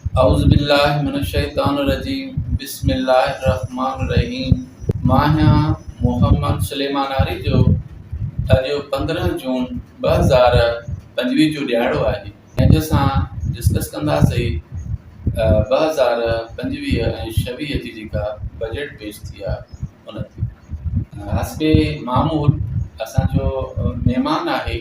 اعوذ بالله من الشيطان الرجيم بسم الله الرحمٰن الرحيم مان آهيان محمد سليمان آري جو اڄ پندرهن جون ٻه هزار پنجويهه جو ڏهاڙو آهي جنهن جو اسان ڊسڪس ڪنداسي ٻه هزار پنجويهه ۽ ڇويهه جي جيڪا بجيٽ پيش ٿي آهي ان تي حسب معمول اسانجو مهمان آهي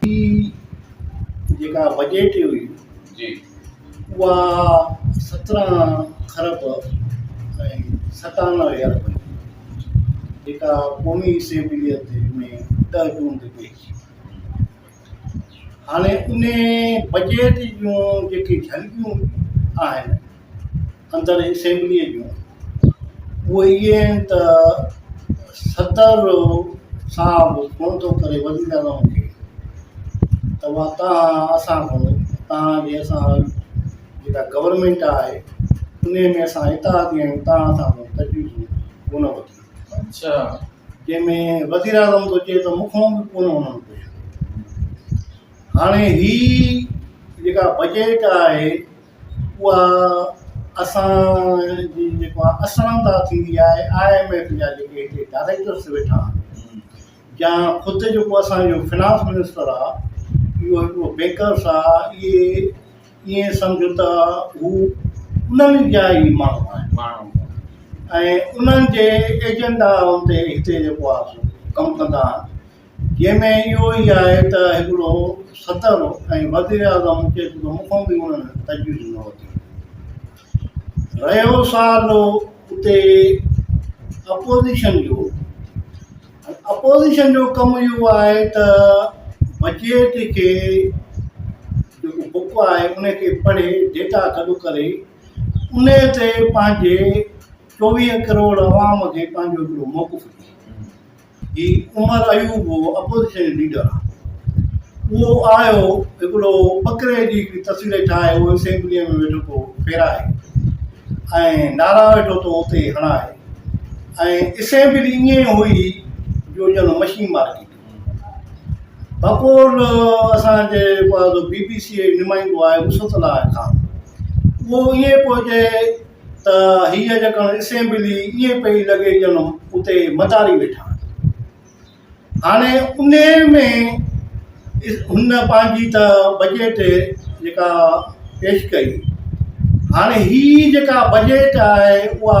هي جيڪا بجيٽ هئي جي اها سترهن خرب ۽ ستانوي ارب هئي جيڪا قومي اسيمبلي تي ۾ ڏهه جون تي پيش ٿي هاڻي انهي بجيٽ جون جيڪي جهلڪيون آهن اندر اسيمبليء جون، اهي اهي آهن ته صدر صاحب فون ٿو ڪري وزيراعظم کي ته مان تان اسان کان تان جي اسان جيڪا گورنمينٽ آهي ان ۾ اسان اتحادي آهيون تان اسان کان تجويزون ڪونه وٺي اچھا جنهن ۾ وزيراعظم ٿو چئي ته مون کان به ڪونه انهن کي هاڻي هي جيڪا بجيٽ آهي اها اسان جي جيڪو آهي اسرانده ٿيندي آهي آء ايم ايف جا جيڪي هتي ڊائريڪٽرس ويٺا آهن يا خود جيڪو اسانجو فنانس منسٽر آهي اهو هڪڙو بيڪرس آهي اهي ائين سمجهه ته هو انهن جا ئي ماڻهو آهن ماڻهو ۽ انهن جي ايجنڊا تي هتي جيڪو آهي سو ڪم ڪندا آهن جنهن ۾ اهو ئي آهي ته هڪڙو صدر ۽ وزيراعظم کي سڌو مکون به هن تجويز نه وتو. رهيو سوال اتي اپوزيشن جو، اپوزيشن جو ڪم اهو آهي ته بجيٽ کي جيڪو بڪ آهي ان کي پڙهي ڊيٽا گڏ ڪري ان تي پنهنجي چوويهه ڪروڙ عوام کي پنهنجو هڪڙو موقف ڏئي. هي عمر ايوب هو اپوزيشن ليڊر اهو آيو هڪڙو ٻڪري جي هڪڙي تصوير ٺاهي اهو اسيمبليء ۾ ويٺو ٿو ڦيرائي ۽ نعرا ويٺو ٿو اتي هڻائي ۽ اسيمبلي ائين هئي جو ڄڻ مشين مارڪيٽ بپور اسانجي بي بي سيء جو نمائندو آيو نصرت الله خان اهو ائين پوء چي ته هيء ڄڻ اسيمبلي ائين پئي لڳي ڄڻ اتي متاري ويٺا آهن. هاڻي انهيء ۾ هن پنهنجي ته بجيٽ جيڪا پيش ڪئي، هاڻي هيء جيڪا بجيٽ آهي اها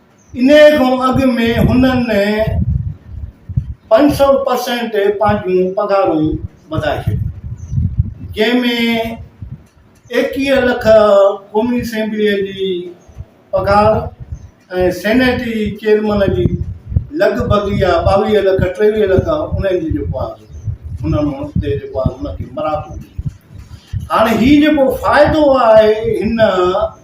انهيء کان اڳ ۾ هنن پنج سؤ پرسينٽ پنهنجون پگهارون وڌائي ڇڏيون، جنهن ۾ ايڪيهه لک قومي اسيمبليء جي پگهار ۽ سينيٽ جي چيئرمن جي لڳ ڀڳ يا ٻاويهه لک ٽيويهه لک انهن جي جيڪو آهي هنن هتي جيڪو آهي هن کي مراتون ڏنيون. هاڻي هي جيڪو فائدو آهي هن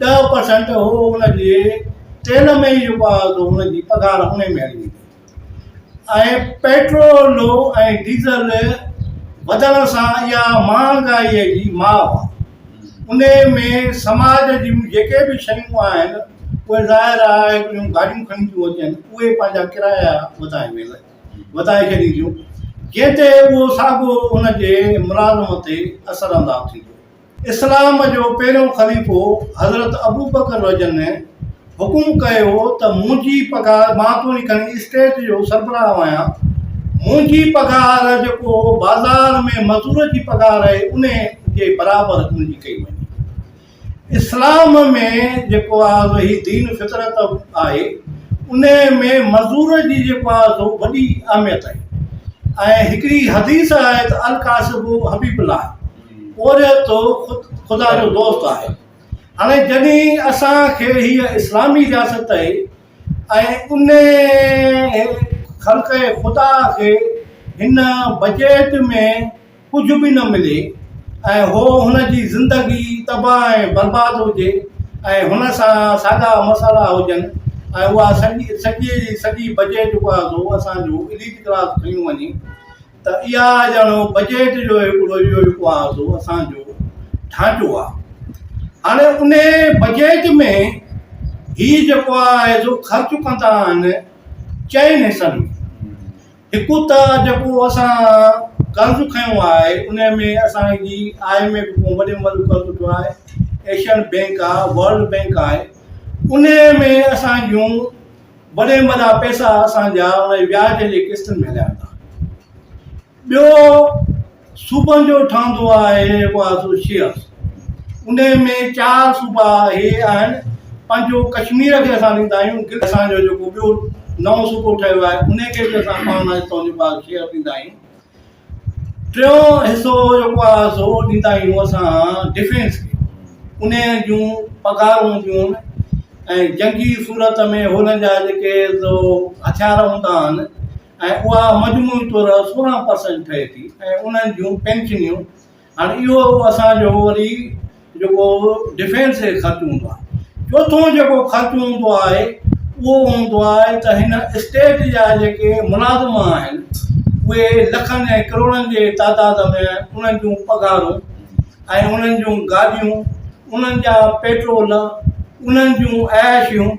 ڏهه پرسنٽ هو ان جي تيل ۾ ئي رپا هلندو هن جي پگهار ان ۾ هلي ويندي ۽ پيٽرول ۽ ڊيزل وڌڻ سان اها مهانگائي جي ماء ان ۾ سماج جون جيڪي به شيون آهن اهي ظاهر آهي جون گاڏيون کڻي ٿيون اچن اهي پنهنجا ڪرايا وڌائي ويل وڌائي ڇڏين ٿيون جنهن تي اهو ساڳو ان جي ملازم تي اثر انداز ٿيندو اسلام جو پهريون خليفو حضرت ابوبڪر رض حڪم ڪيو هو ته منهنجي پگهار، مان توڻي کڻي اسٽيٽ جو سربراهه آهيان، منهنجي پگهار جيڪو بازار ۾ مزور جي پگهار آهي ان جي برابر منهنجي ڪئي وڃي. اسلام ۾ جيڪو آهي هي دين فطرت آهي ان ۾ مزور جي جيڪو آهي سو وڏي اهميت آهي ۽ هڪڙي حديث آهي ته الڪاسب حبيب الله پورهيت ٿو خود خدا جو دوست آهي هاڻي جڏهن اسان کي هيء اسلامي رياست تي ۽ انهيء خلق خدا کي هن بجيٽ ۾ ڪجهه به نه ملي ۽ هو هن جي زندگي تباهه ۽ برباد هجي ۽ هن سان ساڳا مسئلا هجن ۽ اها سڄي سڄي سڄي بجيٽ اها سو اسان جو اليٽ ڪلاس کڻي وڃي ته اها ڄڻو بجيٽ جو هڪڙو اهو جيڪو آهي سو اسان جو ڍانچو آهي هاڻي ان بجيٽ ۾ هي جيڪو آهي سو خرچ ڪندا آهن چئن حصن هڪ ته جيڪو اسان قرض کنيو آهي ان ۾ اسانجي آء ايم ايف کان وڏي ملڪ قرض وٺو آهي ايشين بينڪ آهي ورلڊ بينڪ آهي ان ۾ اسان جون وڏي م جا پئسا اسان جا ان جي وياج جي قسطن ۾ هليا ويندا. ٻيو صوبن جو ٺهندو آهي هڪ ايسوشيئس ان ۾ چار صوبا هي آهن پنهنجو ڪشمير کي اسان ڏيندا آهيون گل اسان جو جيڪو ٻيو نئون صوبو ٺهيو آهي ان کي به اسان پاڻ مان هتان جو ٻار شيئر ڏيندا آهيون ٽيون حصو جيڪو آ سو ڏيندا آهيون اسان ڊفينس کي ان جون پگهارون هونديون آهن ۽ جنگي صورت ۾ هن جا جيڪي سو هٿيار هوندا آهن ۽ اها مجموعي طور سورهن پرسنٽ ٺهي ٿي ۽ انهن جون پينشنيون هاڻي اهو اسان جو وري جيڪو ڊفينس جو خرچ هوندو آهي. چوٿون جيڪو خرچ هوندو آهي اهو هوندو آهي ته هن اسٽيٽ جا جيڪي ملازم آهن اهي لکن ۽ ڪروڙن جي تعداد ۾ انهن جون پگهارون ۽ انهن جون گاڏيون انهن جا پيٽرول انهن جون عياشيون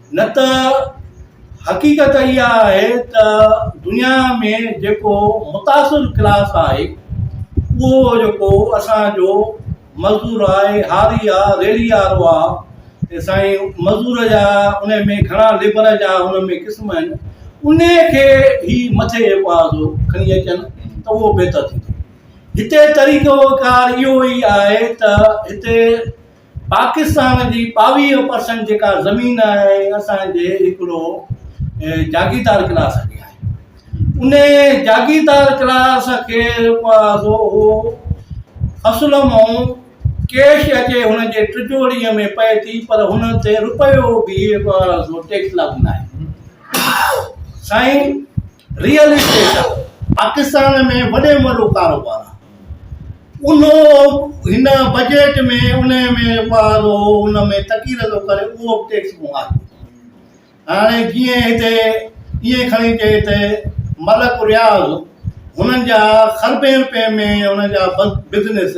نه ته حقيقت اها آهي ته دنيا ۾ جيڪو متاثر ڪلاس آهي اهو جيڪو اسان جو مزدور آهي هاري آهي ريڙهي وارو آهي سائين مزدور جا ان ۾ گهڻا ليبر جا ان ۾ قسم آهن ان کي هي مٿي جيڪو آهي سو کڻي اچن ته اهو بهتر ٿيندو هتي طريقو ڪار اهو ئي آهي ته هتي پاڪستان جي ٻاويهه پرسنٽ جيڪا زمين آهي اسان جي هڪڙو جاگيردار ڪلاس کي آهي ان جاگيردار ڪلاس کي اهو فصل مون ڪيش اچي هن جي ٽجوڙي ۾ پئي ٿي پر هن تي روپيو به ٽيڪس لاڳو نه آهي سائين ريئل اسٽيٽ پاڪستان ۾ وڏي ۾ وڏو ڪاروبار آهي. ان هن بجيٽ ۾ ان ۾ ٻار ان ۾ تقير ٿو ڪري اهو به ٽيڪس مون آهي هاڻي جيئن هتي ائين کڻي چئي ته ملڪ رياض هنن جا خربين روپين ۾ هن جا بزنس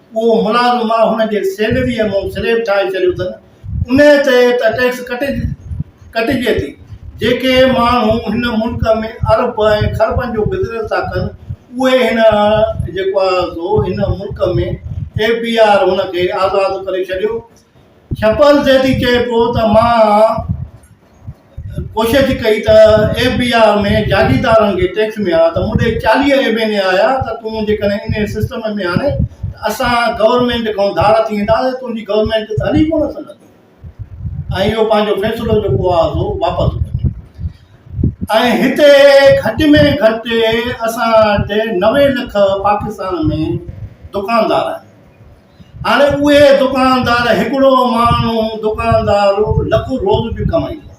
اهو ملازم ماء هن جي سيلريء مون سليب ٺاهي ڇڏيو اٿن، انهيء تي ته ٽيڪس ڪٽجي ٿي. جيڪي ماڻهو هن ملڪ ۾ ارب ۽ خربن جو بزنس ٿا ڪن، اهي هن جيڪو آهي سو هن ملڪ ۾ ايف بي آر هن کي آزاد ڪري ڇڏيو. شپل سيٺي چئي پيو ته مان ڪوشش ڪئي ته ايف بي آر ۾ جاگيردارن کي ٽيڪس مليا ته مون ڏي چاليهه ايم اين اي آيا ته تون جيڪڏهن ان سسٽم ۾ آڻي ته اسان گورنمينٽ کان ڌار ٿي وينداسين تنهنجي گورنمينٽ ته هلي ڪونه سگهندي ۽ اهو پنهنجو فيصلو جيڪو آهي سو واپس وٺي ۽ هتي گهٽ ۾ گهٽ اسان وٽ نوي لک پاڪستان ۾ دڪاندار آهن هاڻي اهي دڪاندار هڪڙو ماڻهو دڪاندار لک روز به ڪمائيندو آهي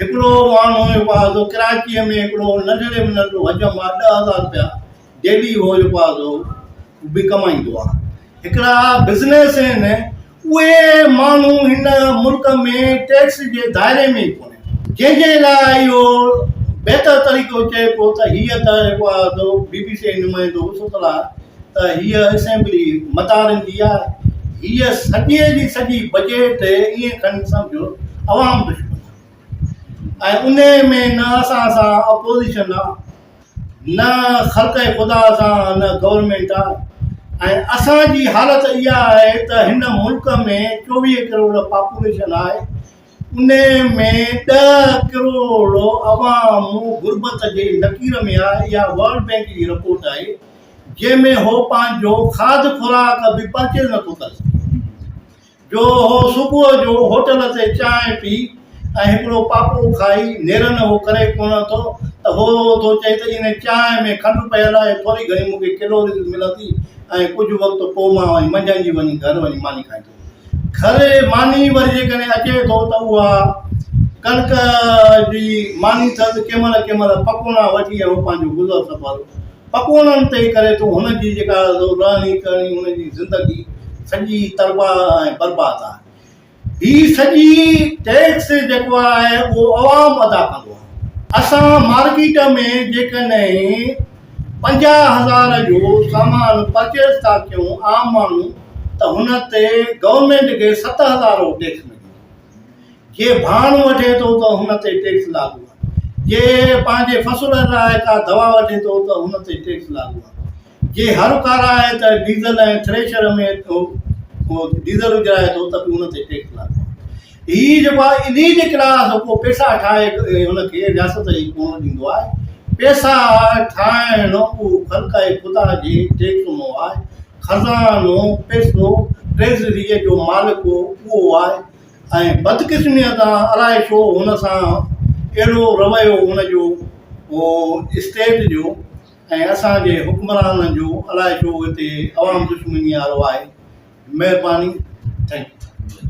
هڪڙو ماڻهو جو پازو ڪراچيء ۾ هڪڙو ننڍڙي ۾ ننڍڙو حجم آ ڏه هزار رپيا ڊيلي هو جو پازو به ڪمائيندو آهي هڪڙا بزنس آهن اهي ماڻهو هن ملڪ ۾ ٽيڪس جي دائري ۾ ئي ڪونهن جنهن جي لاء اهو بهتر طريقو چئبو ته هيء ته جيڪو آ سو بي بي سي نمائندو ستل آهي ته هيء اسيمبلي متان رهندي آهي. هيء سڄي جي سڄي بجيٽ ائين کڻي سمجهو عوام دشمن آهي ۽ انهيء ۾ نه اسان سان اپوزيشن آهي نه خلق خدا سان نه گورنمينٽ آهي ۽ اسان جي حالت اها آهي ته هن ملڪ ۾ چوويهه ڪروڙ پاپوليشن آهي انهيء ۾ ڏهه ڪروڙ عوام غربت جي لڪير ۾ آهي، اها ورلڊ بئنڪ جي رپورٽ آهي، جنهن ۾ هو پنهنجو کاڌ خوراڪ به پرچيز نٿو ڪري سگهي، جو هو صبح جو هوٽل تي چانهه پي ۽ هڪڙو پاپو کائي نيرن اهو ڪري ڪونه ٿو ته هو ٿو چئي ته ان چانهه ۾ کنڊ پيل آهي، ٿوري گهڻي مون کي ڪيلوريز ملندي ۽ ڪجهه وقت پوء مان وري منجهند جي وڃي گهر وڃي ماني کائيندس. کري ماني وري جيڪڏهن اچي ٿو ته اها ڪڻڪ جي ماني سز ڪنهن مهل ڪنهن مهل پڪوڙا وٺي ۽ هو پنهنجو گذر سفر پڪوڙن تي ئي ڪري ٿو هن جي جيڪا رهڻي ڪهڻي هن جي زندگي سڄي ترباهه ۽ برباد آهي هي سڄي ٽيڪس جيڪو آهي اهو عوام ادا ڪندو آهي اسان مارڪيٽ ۾ جيڪڏهن پنجاهه هزار جو سامان پرچيز ٿا ڪيون عام ماڻهو ته هن تي گورنمينٽ کي ست هزار جو ٽيڪس لڳي ٿو. جي ڀاڻ وٺي ٿو ته هن تي ٽيڪس لاڳو آهي. جي پنهنجي فصل لاء ڪا دوا وٺي ٿو ته هن تي ٽيڪس لاڳو آهي. جي هر کارائي ته ڊيزل ۽ ٿريشر ۾ ڊيزل وجهرائي ٿو ته به هن تي ٽيڪس لاڳو آهي. هي جيڪو آهي انهي جي ڪلاس ڪو پيسا ٺاهي هن کي رياست ئي ڪونه ڏيندو آهي. پيسا ٺاهڻ رڳو خلق ۽ خدا جي ٽيڪنو آهي. خزانو، پيسو، ٽريزريء جو مالڪ اهو آهي ۽ بدقسميء تان الائي ڇو هن سان اهڙو رويو هن جو اسٽيٽ جو ۽ اسان جي حڪمرانن جو الائي ڇو هتي عوام دشمنيء وارو آهي. مهرباني. Thank U.